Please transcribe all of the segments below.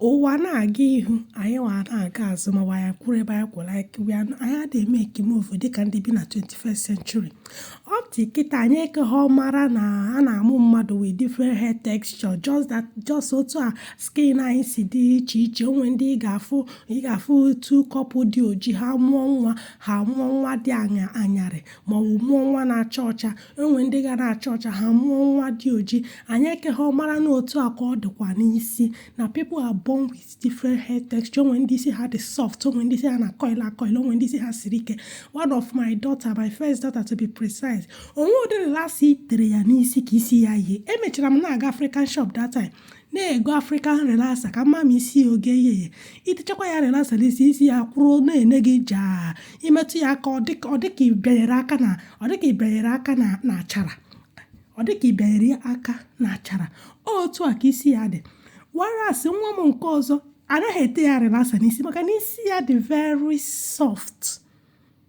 Ụwa na-aga ihu, anyị nwa na-aga azụ maọbụ anyị akwụrụ ebe anyị kwụrụ, anyị we are not- anyị adịghị emake move dịka ndị bi na 21st century. Up to kịta anyị ekeghọ mara na a na-amụ mmadụ with different hair texture just that just otu a skin anyị si dị iche iche o nwe ndị ị ga-afụ ị ga-afụ otu couple dị oji ha mụọ nwa ha mụọ nwa dị anya anyarị maọbụ mụọ nwa na-acha ọcha o nwe ndị ga na-acha ọcha ha mụọ nwa dị oji anyị ekeghọ mara na otu a ka ọ dịkwa n'isi na people are born with different hair texture o nwe ndị isi ha dị soft o nwe ndị isi ha na-acoil acoil o nwe ndị isi ha siri ike one of my daughter my first daughter to be precise o nwe ụdị relaxer i tere ya n'isi ka isi ya yie emechara m na-aga African shop that time na-ego African relaxer ka m ma ma isi ya ọ ga-eye i techakwa ya relaxer n'isi isi ya kwụrụ na-ene gị jaa i metụ ya aka ọ dịka ọ dịka ị bịanyere aka na ọ dịka ị bịanyere aka na na achara ọ dịka ị bịanyere aka na achara otu a ka isi ya dị whereas nwa m nke ọzọ anaghị ete ya relaxer n'isi maka na isi ya dị very soft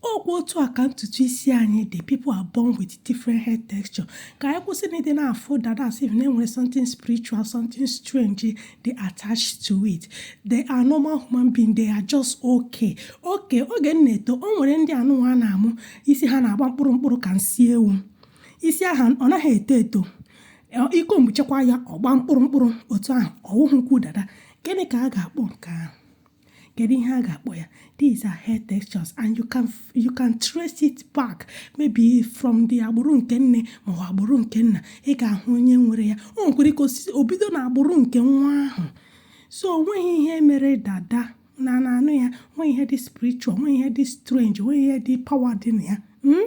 ọkwa otu a ka ntutu isi anyị dị people are born with different hair texture ka anyị kwụsị na ịdị na-afụ dada as if na e nwere something spiritual something strange dị attached to it they are normal human being they are just okay okay oge m na-eto o nwere ndị anụnwa a na-amụ isi ha na-agba mkpụrụ mkpụrụ ka nsị ewu isi ahụ ọ naghị eto eto i combuchakwa ya ọ gba mkpụrụ mkpụrụ otu ahụ ọ wụhụkwa dada gịnị ka a ga-akpọ nke ahụ kedu ihe a ga-akpọ ya these are hair textures and you can you can trace it back maybe from the agbụrụ nke nne maọbụ agbụrụ nke nna ị ga-ahụ onye nwere ya o nwekwara ike ịsị o bido na agbụrụ nke nwa ahụ so o nweghị ihe mere dada na na anụ ya o nweghị ihe dị spiritual o nweghị ihe dị strange o nweghị ihe dị power dị na ya hmm?